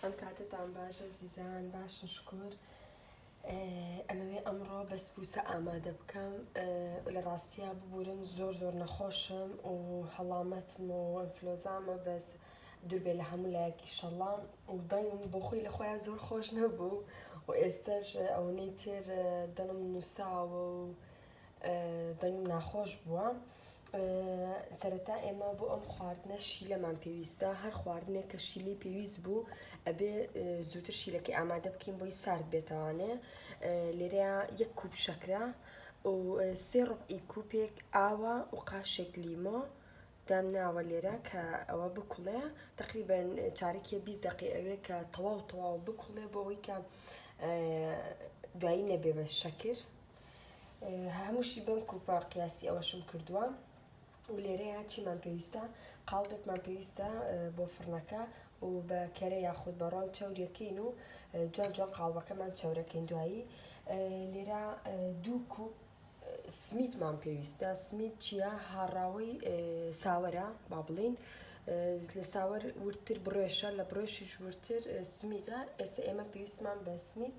ئەم کاتتان باش ئەزیزان باشن شکۆر ئەمەوێ ئەمڕۆ بەس بوسە ئامادە بکەم لە ڕاستیا ببورن زۆر زۆر نەخۆشم و هەڵامەتم و ئەنفلۆزامە بەس دووربێ لە هەموو لایەکی شەڵام و دەنگم بۆ خۆی لە خۆیان زۆر خۆش نەبوو و ئێستاش ئەوەی تر دەنم نووساوە و دەنگم ناخۆش بووە سەرەتا ئێمە بۆ ئەم خواردنە شیلەمان پێویستە هەر خواردنێک کە شیلی پێویست بوو ئەبێ زووتر شیلەکەی ئامادە بکەین بۆی سارد بێتوانێ لێرە یەک کوب شەکرە و سێ ڕوبعی کوپێک ئاوە و قاشێک لیمۆ دام ناوە لێرە کە ئەوە بکوڵێ تقریبان چارێکی بی دقی ئەوێ کە تەواو تەواو بکوڵێ بۆەوەی کە دوایی نەبێ بە شەکر هەمووشی بەم کلپە قیاسی ئەوەشم کردووە و لێرەیە چیمان پێویستە قاڵبێکمان پێویستە بۆ فڕنەکە و بە کەرە یاخود بە ڕۆن چەورەکەین و جوان جوان قاڵبەکەمان چەورەکەین دوایی لێرە دوو کوپ سمیتمان پێویستە سمیت چییە هاڕاوەی ساوەرە با بڵین لە ساوەر ورتر بڕێشە لە بڕێشیش ورتر سمیتە ئێستا ئێمە پێویستمان بە سمیت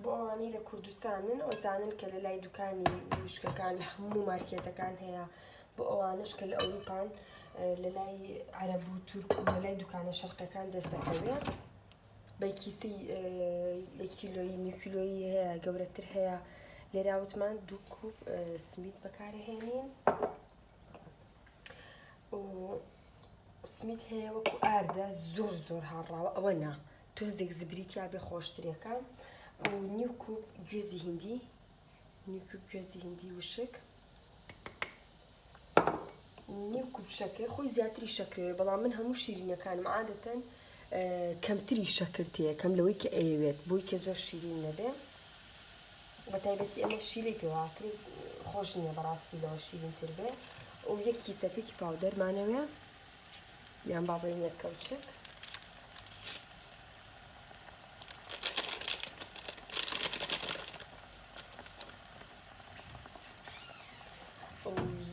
بۆ ئەوانەی لە کوردستانن ئەو زانن کە لە لای دوکانی وشکەکان لە هەموو مارکێتەکان هەیە بۆ ئەوانش کە لە ئەوروپان لە لای عرب و تورک و لە لای دوکانە شەرقەکان دەست دەکەوێت بەکیسی یەکیلۆی نیکیلۆی هەیە گەورەتر هەیە لێراوتمان دوو کوپ سمیت بەکارهێنین و سمیت هەیە وەکو ئاردە زۆر زۆر هاڕاوە ئەوە نا تۆزێک زبری تیا بێ خۆشترێکە و نیو کوب گوێزی هندی نیو کوب گوێزی هندی وشک نیو کوب شەکر خۆی زیاتری شەکرەوەی بەڵام من هەموو شیرینەکانم عادەتەن کەمتری شەکر تێ کەم لەوەی کە ئەیەوێت بۆی کە زۆر شیرین نەبێ بە تایبەتی ئەمە شیلی پێواکری خۆش نییە بەڕاستی لەوە شیرین تر بێ و یەکی سەپێکی پاودەرمانەوێ یان با بڵێین یەک کەوچک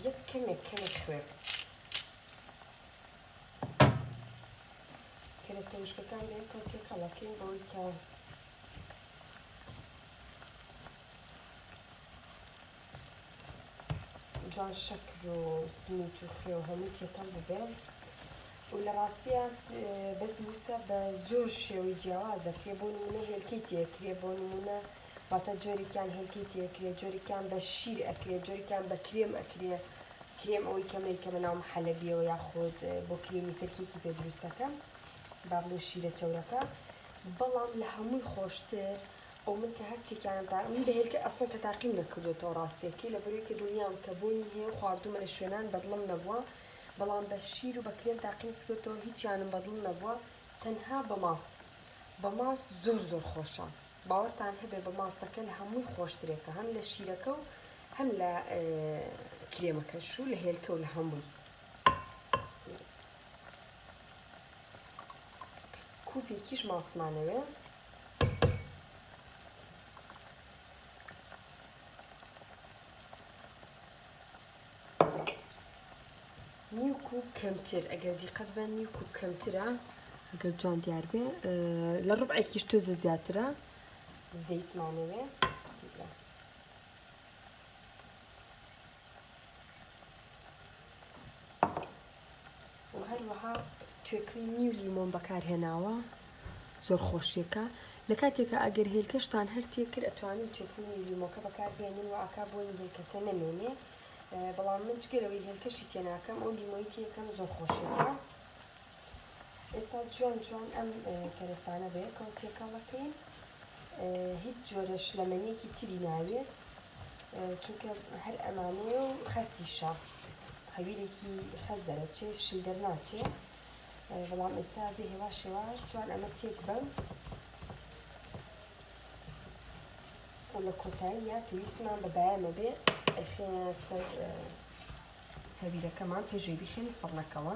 یەک کەمێک کەمی خوێن کەرەستە وشکەکان بە یەکەوە تێکەڵەکەین بەوەی کە جوان شەکر و سمیت و خوێ و هەمووی تێکەڵ ببێ و لە ڕاستیە بەس موسە بە زۆر شێوەی جیاوازەکرێ بۆ نمونە هێلکەی تێکرێ بۆ نمونە واتە جۆرێکیان هێلکەی تێکرێ جۆرێکیان بە شیر ئەکرێ جۆرێکیان بە کرێم ئەکرێ کرێم ئەوەی کەمەی کە بەناو حەلەبیەوە یاخود بۆ کرێمی سەرکێکی پێ دروستەکەم با بڵێ شیرە چەورەکە بەڵام لە هەمووی خۆشتر ئەو من کە هەر چێکیانم تا من بە هێلکە ئەسڵەن کە تاقیم نەکردوێتەوە ڕاستیەکەی لەبەروی کە دڵنیام کە بۆنی هەیە و خواردومە لە شوێنان بەدڵم نەبووە بەڵام بە شیر و بە کرێم تاقیم کردوێتەوە هیچیانم بەدڵ نەبووە تەنها بە ماست بە ماست زۆر زۆر خۆشە باوەڕتان هەبێ بە ماستەکە لە هەمووی خۆشترێکە هەم لە شیرەکە و هەم لە کرێمەکەش و لە هێلکە و لە هەمووی کوپێکیش ماستمانەوێ نیو کوب کەمتر ئەگەر دیقەت بە نیو کوب کەمترە ئەگەر جوان دیار بێ لە ڕبعێکیش تۆزە زیاترە زەیتمانەوێ سیلا وەهەروەها توێکڵی نیو لیمۆم بەکارهێناوە زۆر خۆشیەکە لە کاتێکە ئەگەر هێلکەشتان هەر تێکرد ئەتوانین توێکڵی نیو لیمۆکە بەکاربێنین و ئاکا بۆنی هێلکەکە نەمێنێ بەڵام من جگەلەوەی هێلکەشی تێناکەم ئەو لیمۆی تێکەم زۆر خۆشیەکە ئێستا جوان جوان ئەم کەرەستانە بە یەکەوە تێکەڵەکەین هیچ جۆرە شلەمەنیەکی تری ناوێت چونکە هەر ئەمانەیە و خەستیشە هەویرێکی خەز دەرەچێ شل دەرناچێ بەڵام ئێستا بێ هێواش هێواش جوان ئەمە تێک بم و لە کۆتاییە پێویستمان بە بایەمە بێ ئەخێنە سەر هەویرەکەمان پێشوی بخێن فڕنەکەوە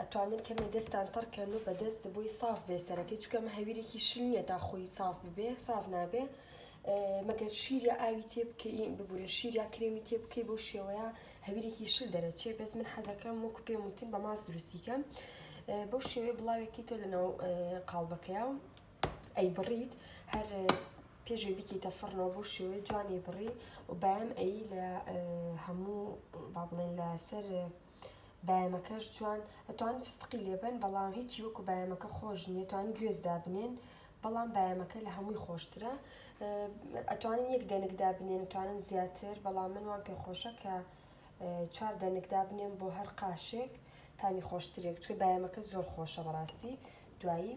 ئەتوانن کەمێ دەستان تەڕ کەن و بەدەست بۆی ساف بێ سەرەکەی چکە ئەمە هەویرێکی شل نییە تا خۆی ساف ببێ ساف نابێ مەگەر شیر یا ئاوی تێ بکەین ببورە شیر یا کرێمی تێ بکەی بۆ شێوەیە هەویرێکی شل دەرەچێ بەس من حەزەکەم وەکو پێم وتن بە ماس دروستیکەم بۆ شێوەیە بڵاوێکی تۆ لەناو قاڵبەکەیە و ئەی بڕیت هەر پێشێ بکەیتە فڕنەوە بۆ شێوەی جوانی بڕی و بەم ئەی لە هەموو با بڵێن لەسەر بایەمەکەش جوان ئەتوان فستقی لێبەن بەڵام هیچی وەکو بایەمەکە خۆش نیە توان گوێز دابنێن بەڵام بایەمەکە لە هەمووی خۆشترە ئەتوانن یەک دەنکدا بنێن توانن زیاتر بەڵام من وام پێخۆشە کە چوار دەنکدا بنێن بۆ هەر قاشێک تامی خۆشترێک چکە بایەمەکە زۆر خۆشە بەڕاستی دوایی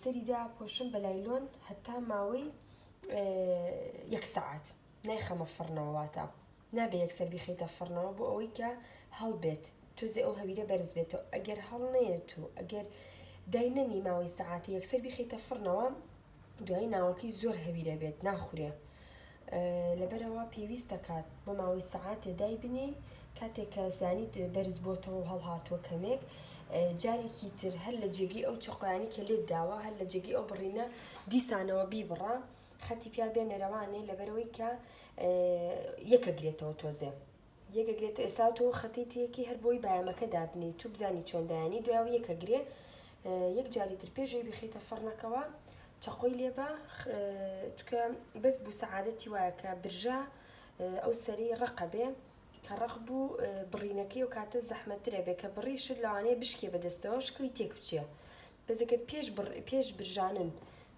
سەری داپۆشم بە لایلۆن هەتا ماوەی یەک سەعات نایخەمە فڕنەوە واتە نابێ یەکسەر بیخیتە فڕنەوە بۆ ئەوەی کە هەڵبێت تۆزێ ئەو هەویرە بەرز بێتەوە ئەگەر هەڵ نەیەت و ئەگەر دای نەنی ماوەی سەعاتی یەکسەر بیخیتە فڕنەوە دوای ناوەکەی زۆر هەویرە بێت ناخورێ لەبەرئەوە پێویست دەکات بۆ ماوەی سەعاتێ دایبنێی کاتێک کە زانیت بەرز بۆتەوە و هەڵهاتووە کەمێک جارێکی تر هەر لە جێگەی ئەو چەقۆیانی کە لێت داوە هەر لە جێگەی ئەو بڕینە دیسانەوە بیبڕە خەتی پیا بێنە رەوانێ لەبەرەوەی کە یەکە گرێتەوە تۆزێ. یەکێک لێت ئێستا تۆ خەتی تێکی هەر بۆی بایەمەکە دابنێی تو بزانی چۆن دایانی دوای و یەکە گرێ یەک جاری تر پێش ئەوی بخیتە فڕنەکەوە چەقۆی لێبە چکە بەس بوو سەعادەتی وایە کە برژە ئەو سەری ڕقە بێ کە ڕق بوو بڕینەکەی و کاتە زەحمەترە بێ کە بڕی شت لەوانەیە بشکێ بەدەستەوە شکلی تێک بچێ بەزەکەت پێش پێش برژانن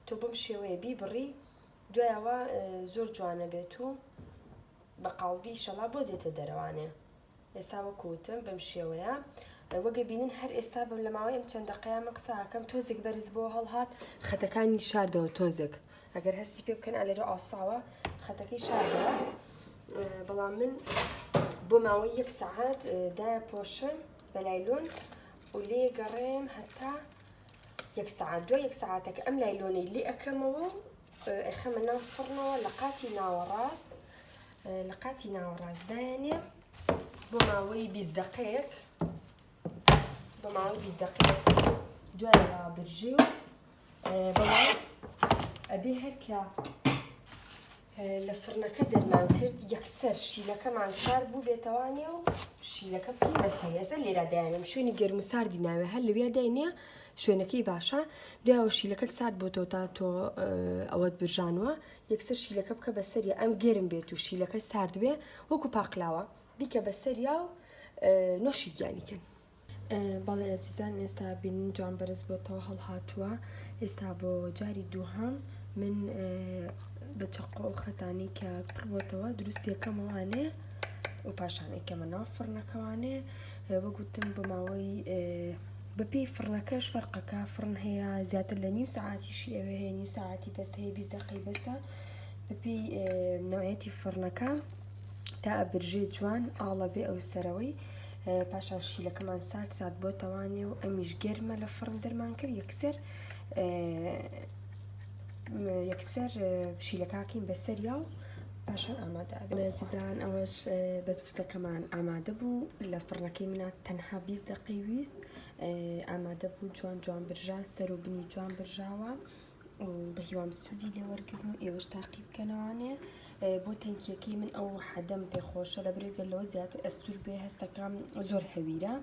تۆ بم شێوەیە بی بڕی دوایەوە زۆر جوانە بێت و بە قاڵبی ئیشەڵا بۆ دێتە دەرەوانێ ئێستا وەکو وتم بەم شێوەیە وەگە بینن هەر ئێستا بم لە ماوەی ئەم چەند دەقەیە من قساکەم تۆزێک بەرز بۆ هەڵهات خەتەکانی شاردەوە تۆزێک ئەگەر هەستی پێ بکەن ئەلێرە ئاساوە خەتەکەی شاردەوە بەڵام من بۆ ماوەی یەک سەعات دا پۆشم بەلایلۆن و لێ گەڕێم هەتا یەک سعات دوای یەک سعاتەکە ئەم لایلۆنەی لێ ئەەکەمەوە ئەیخەمە ناو فڕنەوە لە قاتی ناوەڕاست لە قاتی ناوەڕاست دایانێ بۆ ماوەی بیست دەقەیەک بۆ ماوەی بیست دەقەیەک دوای ڕابرژی و بەڵام ئەبێ هەرکە لە فرنەکە دەرمان کرد یەکسەر شیلەکەمان سارد بوو بێتەوانێ و شیلەکە پێی بەسەر ئێستا لێرا دایانم شوێنی گەرم و ساردی ناوێ هەر لەوێ داینە شوێنەکەی باشە دوایەوە شیلەکەت سارد بۆتەوە تا تۆ ئەوەت برژانوە یەکسەر شیلەکە بکە بە سەری ئەم گەرم بێت و شیلەکە سارد بێ وەکو پاقلاوە بیکە بە سەریا و نۆشی گیانیکەن بەڵێ ئەزیزان ئێستا بینین جوان بەرز بۆتەوە هەڵهاتووە ئێستا بۆ جاری دووهام من بە چقۆ و خەتانی کە پڕبتەوە دروست یەکەمەوانێ و پاشانێکەمە ناو فڕنەکەوانێ وەگوتم بۆ ماوەی بە پێی فڕنەکەش فەرقەکە فڕن هەیە زیاتر لە نیو سەعاتیشی ئەوێ هەیە نیو سەعاتی بەس هەیە بیست دقی بەسە بە پێی نوعەتی فڕنەکە تا ئەبرژێ جوان ئاڵە بێ ئەو سەرەوەی پاشان شیلەکەمان سارد سات بۆ تەوانێ و ئەمیش گەرمە لە فڕن دەرمان کرد یەکسەر یەکسەر شیلەکەکەین بەسەریا و پاشان ئامادە ئەبێ. ئەڵێ زیدان ئەوەش بەسبوسەکەمان ئامادە بوو لە فڕنەکەی منا تەنها بیست دەقەی ویست ئامادە بوو جوان جوان برژا سەر و بنی جوان برژاوە و بە هیوام سوودی لێ وەرگرن و ئێوەش تاقی بکەنەوانێ بۆ تەنکیەکەی من ئەو حەدەم پێخۆشە لە برێگە لەوە زیاتر ئەستور بێ هەستەکەم زۆر هەویرە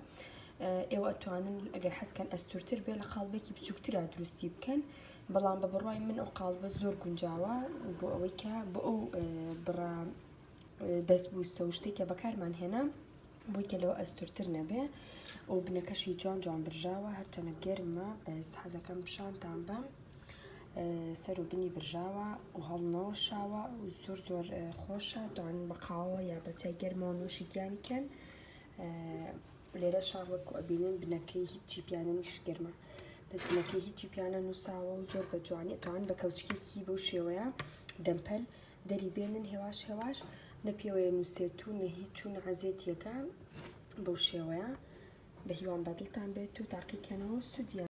ئێوە ئەتوانن ئەگەر حەزکەن ئەستورتر بێ لە قاڵبێکی بچووکترا دروستی بکەن بەڵام بە بڕوای من ئەو قاڵبە زۆر گونجاوە بۆ ئەوەی کە بۆ ئەو بڕە بەسبووسە و شتێکە بەکارمان هێنا بۆی کە لەوە ئەستورتر نەبێ ئەو بنەکەشی جوان جوان برژاوە هەرچەنە گەرمە بەس حەزەکەم پیشانتان بەم سەر و بنی برژاوە و هەڵنەوە شاوە و زۆر زۆر خۆشە توانن بە قاوە یا بە چای گەرمەوە نوشیگیان کەن لێرە شاڕ وەکو ئەبینن بنەکەی هیچی پیانە نیش گەرمە بەس بنەکەی هیچی پیانە نووساوە و زۆر بە جوانی ئەتوان بە کەوچکێکی بەو شێوەیە دەمپەل دەری بێنن هێواش هێواش نە پێوەیە نووسێت و نە هیچ چوون عزیێتیەکە بەو شێوەیە بە هیوام بەدڵتان بێت و تاقیکەنەوە سوودیان